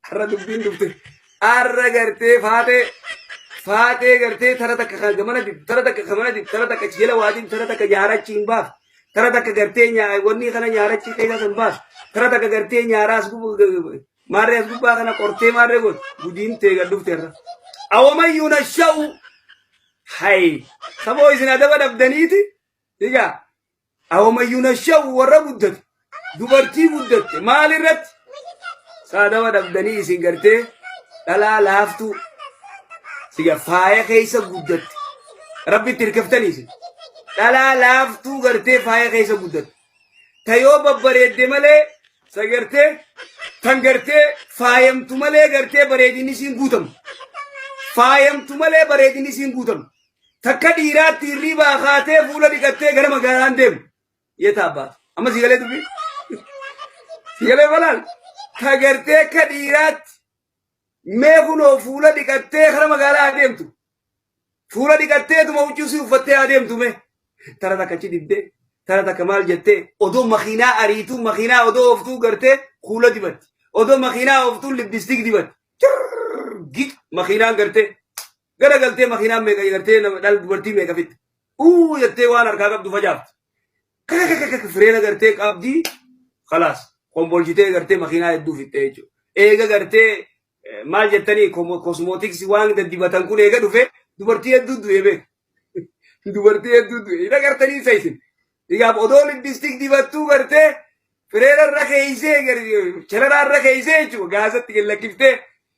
Har'a dubbiin dhufte. Har'a gartee faatee faatee gartee tara takka kan gamana dib tara takka gamana dib tara takka jela waadin tara takka yaarachi hin baaf. Tara takka gartee nyaa wanni kana yaarachi keessa hin baaf. Tara takka gartee nyaaraas gubbaa maarree as gubbaa kana qortee maarree goot gudiin tee gad dhufte irra. Awomayyuu na sha'u. Hayi saboo isin adaba dhabdaniiti. Diga Ahomayyuu nasha'u warra guddatu dubartii guddatte maal irratti saadawa dhabdanii isin gartee dhalaa laaftuu siga faaya keessa guddatte rabbitti hirkiftanii isin dhalaa laaftuu gartee faaya keessa guddatte ta yoo babbareedde malee sa gartee tan gartee faayamtu malee gartee bareedinni isiin guutamu faayamtu malee bareedinni isiin guutamu Takka dhiiraatti hirriibaa kaatee fuula dhiqattee gara magaalaan deemu. Yeeta abbaatu. Amma si galee dubbi. Si galee balaal. Ka gartee akka dhiiraatti mee kunoo fuula dhiqattee gara magaalaa adeemtu. Fuula dhiqatteetuma huccuu si uffattee adeemtu mee. Tara takka achi dibdee. Tara takka maal jettee odoo makiinaa ariituu makiinaa odoo ooftuu gartee kuula dibatti. Odoo makiinaa ooftuu lippistiik dibatti. Cirr git makiinaan gartee. gara galtee makiinaan meeqa gartee nama dhal dubartii meeqa fitte uu jettee waan harkaa qabdu facaafte kakakakaka fireena gartee qabdii kalaas kombolchitee gartee makiinaa hedduu fitte jechuudha eega gartee eh, maal jettanii kosmootiksii waan daddibatan kun eega dhufe dubartii hedduu du'e beeku dubartii hedduu du'e hin agartanii isa isin dhigaaf odoo lippistik dibattuu gartee fireena irra keeysee gar- shararaa irra keeysee jechuudha gaasatti gad lakkiftee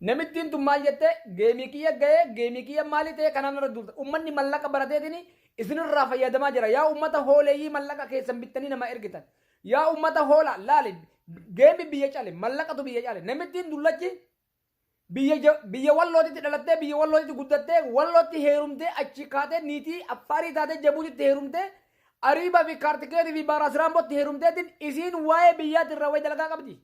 Namittiin tun maal jette geemii kiyya gayee geemii kiyya maali ta'e kanaan irra duulta ummanni mallaqa barateetini isinirraa fayyadamaa jira yaa ummata hooleeyyii mallaqa keessan bittanii namaa ergitan yaa ummata hoola laali geemi biyya cale mallaqatu biyya cale namittiin dullachi biyya ja- biyya wallootitti dhalattee biyya wallootitti guddattee wallootti heerumtee achi kaatee niitii affaarii taatee jabuutitti heerumtee ariibaa fi kaartikeetii fi baaraasiraambootti heerumteetiin isiin waa'ee biyyaatti irraa wayi dalagaa qabdi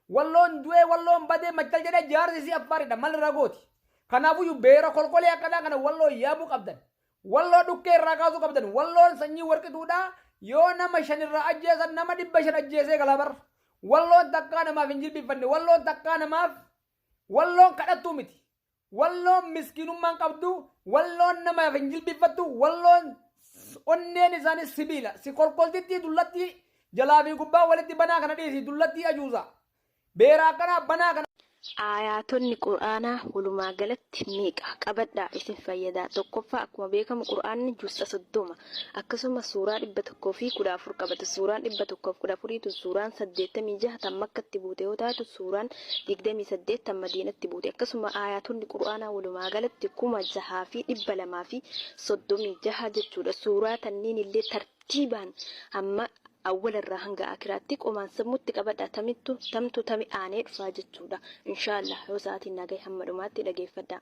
Walloon du'ee walloon badee machal jedhee jaarsi isii affaaridha mal irraa gooti. Kanaafuyyu beera kolkolee akkanaa kana walloo yaamuu qabdan. Walloo dhukkee irraa kaasuu qabdan. Walloon sanyii warqituudha yoo nama shan irraa ajjeesan nama dhibba shan ajjeesee galaa bar. Walloon takkaa namaaf hin jilbiffanne. Walloon takkaa namaaf walloon kadhattuu miti. Walloon miskiinummaan qabdu, Walloon namaaf hin jilbiiffattu, Walloon onneen isaanii sibiila. Si kolkoltittii dullattii jalaa fi gubbaa walitti banaa kana dhiisi, dullattii ajuuzaa. Beera akkanaa banaa kana. Aayaatonni Qur'aanaa walumaagalatti meeqa? Qabadhaa isin fayyada. Tokkoffaa akkuma beekamu Qur'aanni juz'a 30. Akkasumas suuraa 114 qabata. Suuraan 114 tun suuraan 86 tan Makkatti buute yoo taatu, suuraan 28 tan Madiinatti buute. Akkasuma aayaatonni Qur'aanaa walumaagalatti 6236 jechuudha. Suuraa tanniinillee tartiibaan hamma awwalarraa hanga aakhiraatti qomaan sammutti qabadhaa tamittu tamtu tami aanee dhufaa jechuudha. Inshaa Allaah yoo sa'aatiin naa gahe hamma dhumaatti dhageeffadhaa.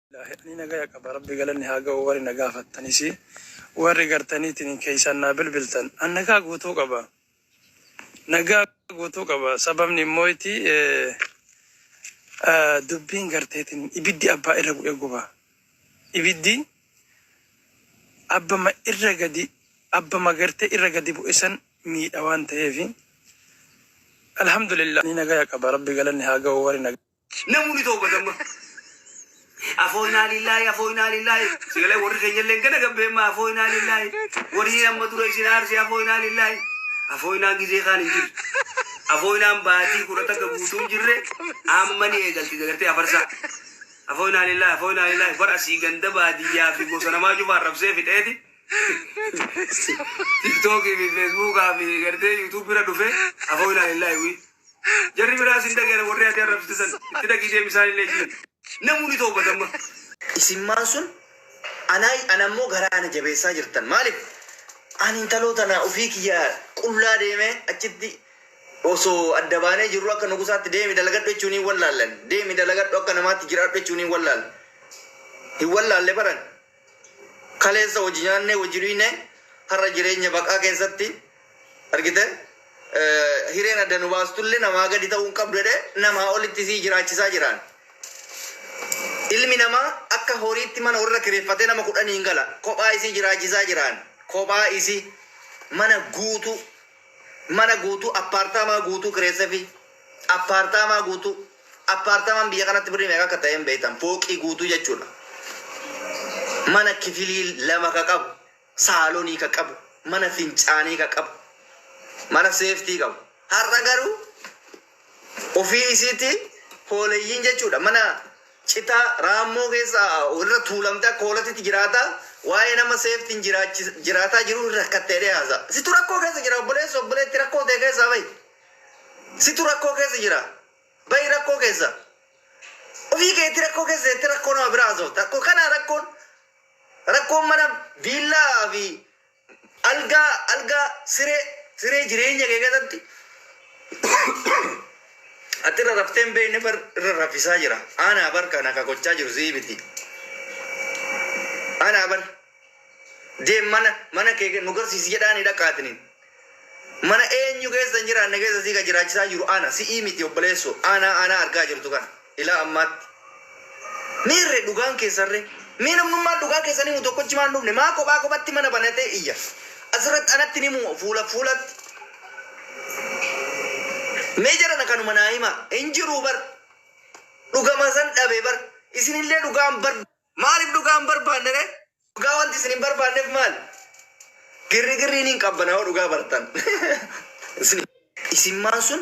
Ani nagaya qaba rabbi galanni haa ga'u warri na gaafattanis warri gartaniitiin keessaan naa bilbiltan an nagaa guutuu qaba nagaa guutuu qaba sababni immoo itti dubbiin garteetiin ibiddi abbaa irra bu'ee guba ibiddi abbama irra gadi abbama gartee irra gadi bu'e san miidha waan ta'eef alhamdulillah ni nagaya qaba rabbi galanni haa ga'u warri nagaya Namu ni toobata amma. Afooynaa lillaahi afooynaa lillaahi. Sagalee warri keenya illee gana gabbeemma afooynaa lillaahi. Warri amma dura isin aarse afooynaa lillaahi. Afooynaan gizee kaan hin jiru. Afooynaan baatii kudha takka guutuu hin jirre amma ni eegalti dagartee afarsaa. Afooynaa lillaahi afooynaa lillaahi bar asii ganda baadiyyaa fi gosa namaa cufaa arrabsee fixeeti. Tiktookii fi feesbuukaa fi gartee yuutuubii irra dhufee afooynaa lillaahi wii. Jarri biraas hin dhaga'an warri ati arrabsite san. Itti dhaqii deemi isaanillee jiin. Namuu ni toowbata amma. Isinmaan sun anaayi ana immoo garaa ana jabeessaa jirtan maalif ani intaloo tana ufii kiyya qullaa deemee achitti osoo adda baanee jirruu akka nugusaatti deemi dalagadhu jechuun hin wallaallan deemi dalagadhu akka namaatti jiraadhu jechuun hin wallaal hin wallaalle baran Kaleessa hojii nyaannee hojii dhuyne har'a jireenya baqaa keessatti argite hireen adda nu baastulle namaa gadi ta'uu hin qabdu jedhee namaa olitti isii jiraachisaa jiraan. Ilmi namaa akka horiitti mana warra kireeffatee nama kudhaniin gala kophaa isii jiraachisaa jiraan. Kophaa isii mana guutuu Mana guutuu, appaartaamaa guutuu kireessefii. Appaartaamaa guutuu. Appaartaamaan biyya kanatti birrii meeqa akka ta'e hin beektan. Fooqii guutuu jechuudha. Mana kifilii lama ka qabu, saalonii ka qabu, mana fincaanii ka qabu, mana seeftii qabu. Har'a garuu. Ofii isiitii hooleyyiin jechuudha. Mana citaa raammoo keessa irra tuulamte akka hoolatitti jiraata. Waa'ee nama seeftiin jiraataa jiruu hin rakkatte jedhee haasa. Situ rakkoo keessa jira obboleessa obboleetti rakkoo ta'e keessaa bahi. Situ rakkoo keessa jira. Bahi rakkoo keessa. Ofii keetti rakkoo keessa jettee rakkoo nama biraa haasofta. Kana rakkoon rakkoon mana viillaa fi Algaa, alga, siree, siree jireenya kee keessatti ati irra raftee hin beekne far irra raffisaa jira. Aanaa bar kana ka gochaa jiru sii miti. Aanaa bar deem mana mana kee nu garsiisi jedhaani dhaqaatiniin. Mana eenyu keessa hin jiraanne keessa si ka jiraachisaa jiru ana, si'ii miti obboleessoo, ana, ana argaa jirtu kana, ilaa ammaatti. Meerre dhugaan keessanre? Mee namnummaan dhugaa keessan himu tokkochi maa hin dhufne? Maa kophaa kophatti mana banatee iyya? Asirratti anatti hin himu fuulaf fuulatti. Mee jarana kanuma naa himaa. Hin jiruu bar. Dhugama san dhabe bar. Isinillee dhugaan bar. Maaliif dhugaa hin barbaanne ree? Dhugaa wanti isin hin barbaanneef maali? Girrigirriin hin qabbanaa'u dhugaa bartan. Isin. Isimmaan sun